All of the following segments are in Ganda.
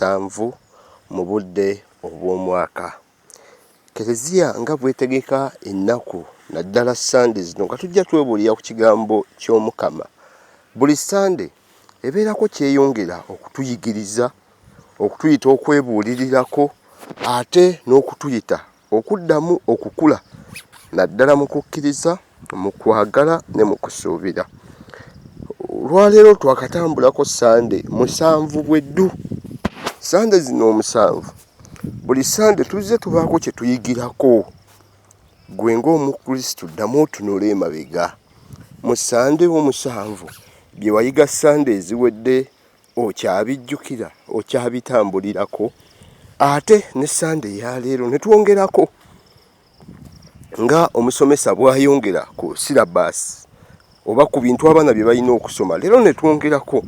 musanvu mu budde obw'omwaka kereziya nga bwetegeka ennaku naddala sande zino nga tujja twebulira ku kigambo ky'omukama buli sande ebeerako kyeyongera okutuyigiriza okutuyita okwebuulirirako ate n'okutuyita okuddamu okukula naddala mu kukkiriza mu kwagala ne mu kusuubira olwaleero twakatambulako sande musanvu bweddu sande zino omusanvu buli sande tuzze tubaako kye tuyigirako gwe ng'omukristu ddamu otunula emabega mu sande omusanvu bye wayiga sande eziwedde okyabijjukira okyabitambulirako ate ne sande eyaleero ne twongerako nga omusomesa bwayongera ku sirabaasi oba ku bintu abaana bye balina okusoma leero ne twongerako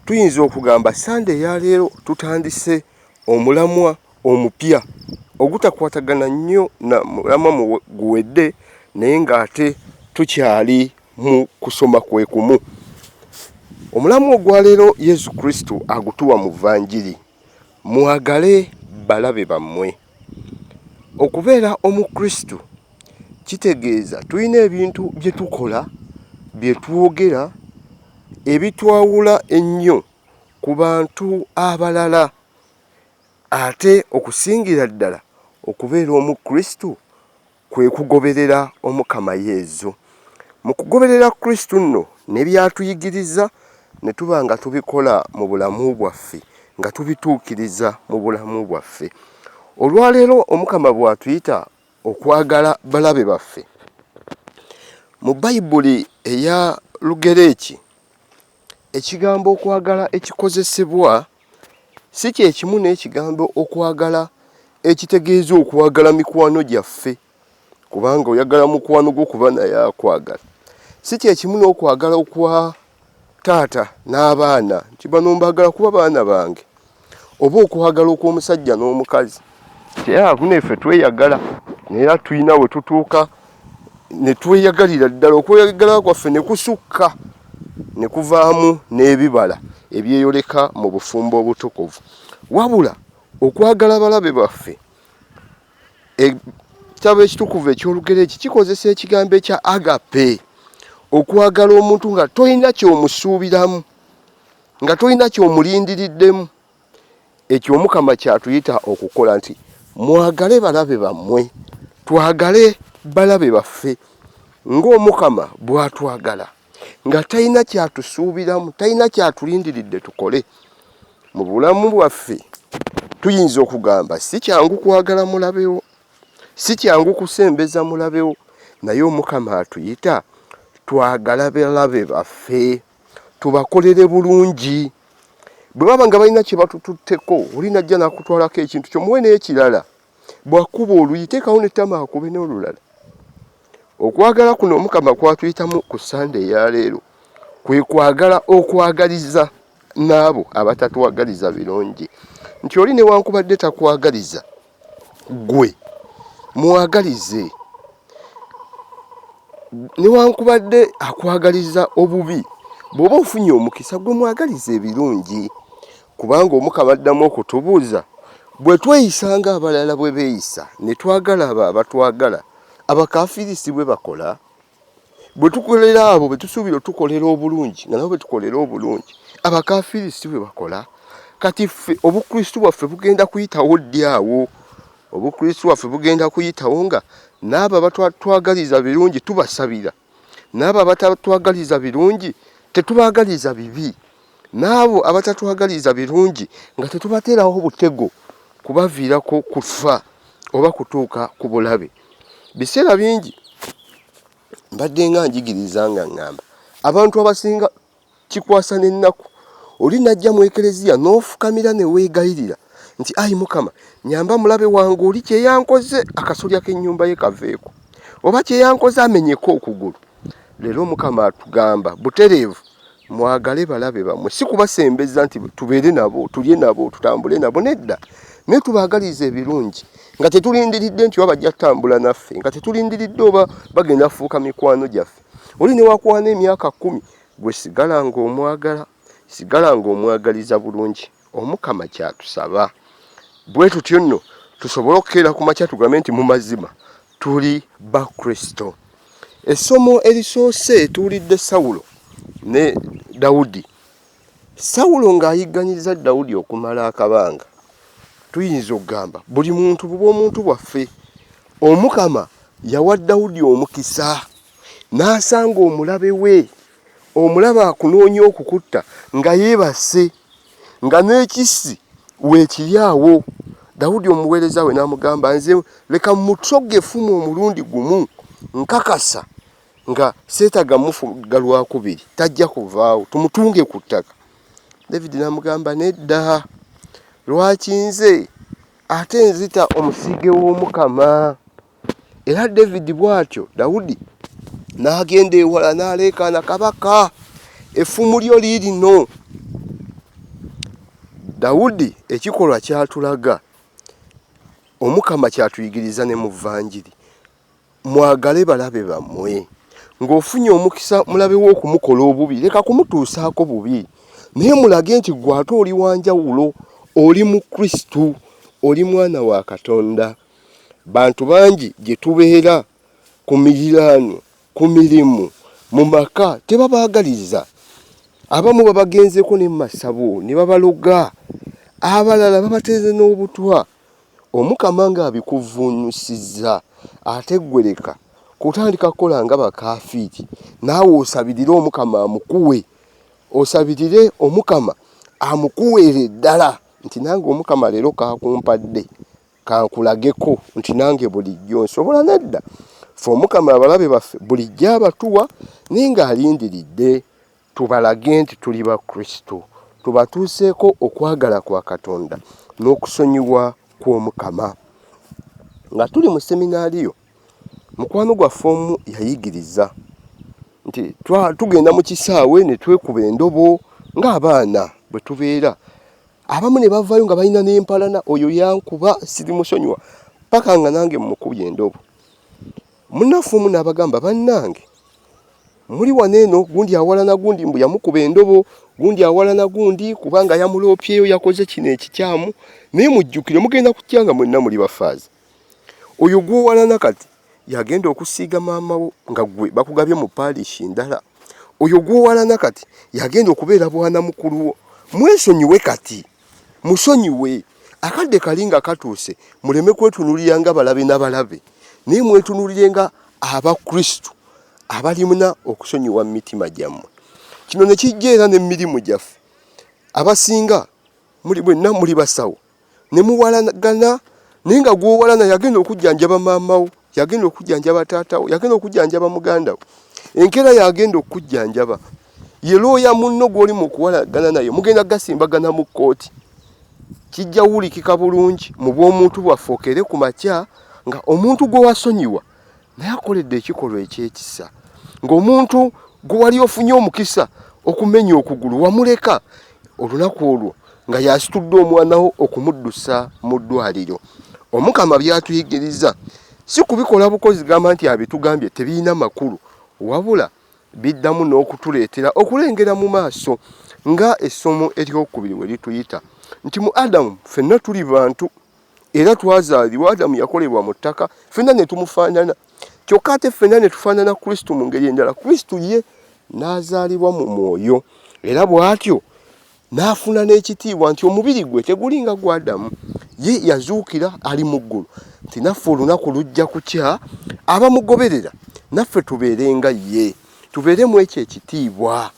tuyinza okugamba sande eyaleero tutandise omulamwa omupya ogutakwatagana nnyo na mulamwa guwedde naye ng'ate tukyali mu kusoma kwe kumu. Omulamu ogwa leero Yesu Kristo agutuwa mu Vanjiri, mwagale balabe bammwe. Okubeera Omukristo kitegeeza tulina ebintu bye tukola, bye twogera, ebitwawula ennyo ku bantu abalala. Ate okusingira ddala okubeera Omukristu kwe kugoberera Omukama Yezu. Mu kugoberera Kristu nno ne by'atuyigiriza ne tuba nga tubikola mu bulamu bwaffe, nga tubituukiriza mu bulamu bwaffe. Olwaleero Omukama bw'atuyita okwagala balabe baffe, mu Bayibuli eya Lugereeki Ekigambo okwagala ekikozesebwa si kye kimu n'ekigambo okwagala ekitegeeza okwagala mikwano gyaffe kubanga oyagala mukwano gwo kuba naye akwagala si kye kimu n'okwagala okwa taata n'abaana nti bano mbagala kuba baana bange oba okuhagala okw'omusajja n'omukazi teyakuna efe tweyagala naye tulina we tutuuka ne tweyagalira ddala okweyagala kwaffe ne kusukka ne kuvaamu n'ebibala ebyeyoleka mu bufumbo obutukuvu wabula okwagala balabe baffe ekitabo e, ekitukuvu eky'olugereeki kikozesa ekigambo ekya agape okwagala omuntu nga tolina kyomusuubiramu nga tolina kyomulindiriddemu ekyo omukama kyatuyita okukola nti mwagale balabe bammwe twagale balabe baffe ng'omukama bwatwagala nga talina kyatusuubiramu talina kyatulindiridde tukole mu bulamu bwaffe tuyinza okugamba si kyangu kwagala mulabewo si kyangu kusembeza mulabewo naye omukama atuyita twagala balabe baffe tubakolere bulungi bwe baba nga balina kye batututteko oli najja nakutwalako ekintu kyo muwe n'ekirala bwakuba oluyi teekawo nettama akube n'olulala okwagala kuno omukama kwatuyitamu ku sande eyaleero kwe kwagala okwagaliza n'abo abatatwagaliza birungi nti oli newankubadde takwagaliza gwe mwagalize newankubadde akwagaliza obubi bw'oba ofunye omukisa gwe mwagaliza ebirungi kubanga omukama addamu okutubuuza bwe tweyisa nga abalala bwe beeyisa ne twagala abo abatwagala abakafirisi bwe bakola bwe tukolera abo be tusuubira otukolera obulungi nga nabo be tukolera obulungi abakafiiri si bwe bakola kati ffe obukristu bwaffe bugenda kuyitawo ddi awo obukristu bwaffe bugenda kuyitawo nga n'abo abatwagaliza birungi tubasabira n'abo abatatwagaliza birungi tetubaagaliza bibi n'abo abatatwagaliza birungi nga tetubateerawo butego kubaviirako kufa oba kutuuka ku bulabe biseera bingi mbadde nga njigiriza nga ngamba abantu abasinga kikwasa n'ennaku oli najja mu ekereziya n'ofukamira ne weegayirira nti ayi mukama nyamba mulabe wange oli kye yankoze akasolya k'ennyumba ye kaveeko oba kye yankoze amenyeko okugulu leero mukama atugamba butereevu mwagale balabe bamwe si kubasembeza nti tubeere nabo tulye nabo tutambule nabo nedda naye tubaagaliza ebirungi nga tetulindiridde nti oba bajja tutambula naffe nga tetulindiridde oba bagenda kufuuka mikwano gyaffe oli newakwana emyaka kumi gwe sigala ngaomwagala sigala ngaomwagaliza bulungi Omukama kyatusaba bwe tutyo nno tusobole okukeera ku makya tugambe nti mu mazima tuli ba Kristo. Essomo erisoose tuwulidde Sawulo ne Dawudi. Sawulo ng'ayigganyizza Dawudi okumala akabanga. Tuyinza okugamba buli muntu buba omuntu bwaffe. Omukama yawa Dawudi omukisa n'asanga omulabe we omulabe akunoonya okukutta nga yeebase nga n'ekissi weekiri awo dawudi omuweereza we n'amugamba nze leka mutoga efumu omulundi gumu nkakasa nga seetaga mufuga lwakubiri tajja kuvaawo tumutunge ku ttaka david n'amugamba nedda lwaki nze ate nzita omusige w'omukama Era Davidi bw'atyo Dawudi n'agenda ewala n'aleekaana kabaka, effumu lyo liirino. Dawudi ekikolwa kyatulaga omukama kyatuyigiriza ne mu vanjiri mwagale balabe bammwe ng'ofunye omukisa mulabe wo okumukola obubi leka kumutuusaako bubi naye mulage nti gwe ate oli wanjawulo oli mu kristu oli mwana wa katonda Bantu bangi gye tubeera ku miriraano, ku mirimu, mu maka tebabaagaliza. Abamu babagenzeeko ne mu masabo ne babaloga, abalala babateeze n'obutwa. Omukama ng'abikuvvuunyusizza, ate ggwe leka kutandika kukola nga bakaafiiri, naawe osabirire Omukama amukuwe. Osabirire Omukama amukuweere ddala nti nange Omukama leero k'akumpadde. kankulageko nti nange bulijjo nsobola nedda fe omukama abalabe baffe bulijjo abatuwa naye ng'alindiridde tubalage nti tuli ba kristo tubatuuseeko okwagala kwa katonda n'okusonyiwa kw'omukama nga tuli mu seminaaliyo mukwano gwaffe omu yayigiriza nti tugenda mu kisaawe ne twekuba endobo ng'abaana bwe tubeera abamu ne bavaayo nga balina n'empalana oyo yankuba siri musonyiwa paka nga nange mukubye endobo munafu omu n'abagamba bannange muli wano eno gundi awalana gundi mbu yamukuba endobo gundi awalana gundi kubanga yamuloopyeyo yakoze kino ekikyamu naye mujjukire mugenda kutya nga mwenna muli bafaaza oyo gwowalana kati yagenda okusiiga maama wo nga gwe bakugabye mu parish ndala oyo gwowalana kati yagenda okubeera bwana mukulu wo mwesonyiwe kati musonyiwe akadde kali nga katuuse muleme kwetunulira nga balabe nabalabe naye mwetunulire nga abakristu abalimuna okusonyiwa mu mitima gyammwe kino ne kijja era n'emirimu gyaffe abasinga muli bwenna muli basawo ne muwalagana naye nga gwowalana yagenda okujjanjaba maamawo yagenda okujjanjaba taatawo yagenda okujjanjaba mugandawo enkeera yagenda okujjanjaba ye looya munno gw'oli mu kuwalagana naye mugenda gasimbagana mu kkooti kijja wulikika bulungi mu bw'omuntu bwaffe okere ku makya nga omuntu gwe wasonyiwa naye akoledde ekikolwa ekyekisa ng'omuntu gwe wali ofunye omukisa okumenya okugulu wamuleka olunaku olwo nga yasitudde omwanawo okumuddusa mu ddwaliro omukama byatuyigiriza si kubikola bukozi gamba nti abitugambye tebirina makulu wabula biddamu n'okutuleetera okulengera mu maaso nga essomo eryokubiri we lituyita nti mu adamu fenna tuli bantu era twazaalibwa adamu yakolebwa mu ttaka fenna ne tumufaanana kyokka ate fenna ne tufaanana kristo mu ngeri endala kristo ye n'azaalibwa mu mwoyo era bw'atyo n'afuna n'ekitiibwa nti omubiri gwe tegulinga gwadamu ye yazuukira ali mu ggulu nti naffe olunaku lujja kukya abamugoberera naffe tubeere nga ye tubeeremu ekyo ekitiibwa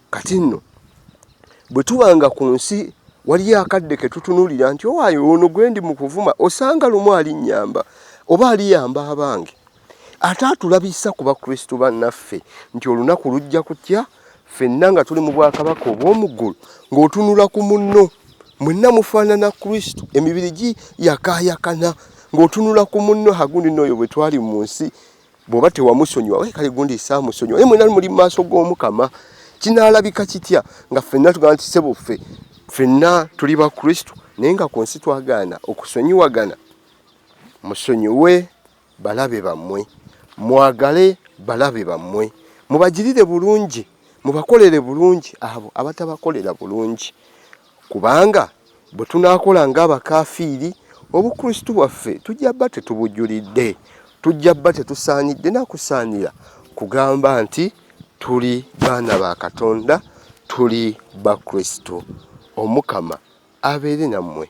kati nno bwe tuba nga ku nsi waliyo akadde ke tutunuulira nti owaayo oh, ono gwe ndi mu kuvuma osanga lumu alinnyamba oba aliyamba abange ate atulabisa ku bakristu bannaffe nti olunaku lujja kutya ffenna nga tuli mu bwakabaka obw'omu ggulu ng'otunula ku munno mwenna mufaanana kristu emibiri gi yakaayakana ng'otunula ku munno hagundi nooyo bwe twali mu nsi bwoba tewamusonyiwa we kale gundi saa musonyiwa naye mwena muli mu maaso g'omukama kinaalabika kitya nga ffenna tugamba nti sebo ffe ffenna tuli ba kristo naye nga ku nsi twagaana okusonyiwagana musonyiwe balabe bammwe mwagale balabe bammwe mubagirire bulungi mubakolere bulungi abo abatabakolera bulungi Kubanga bwe tunaakola ng'abakaafiiri, Obukristu bwaffe tujja bba tetubujulidde. Tujja bba tetusaanidde na kusaanira kugamba nti tuli baana ba Katonda, tuli Bakristu. Omukama abeere nammwe.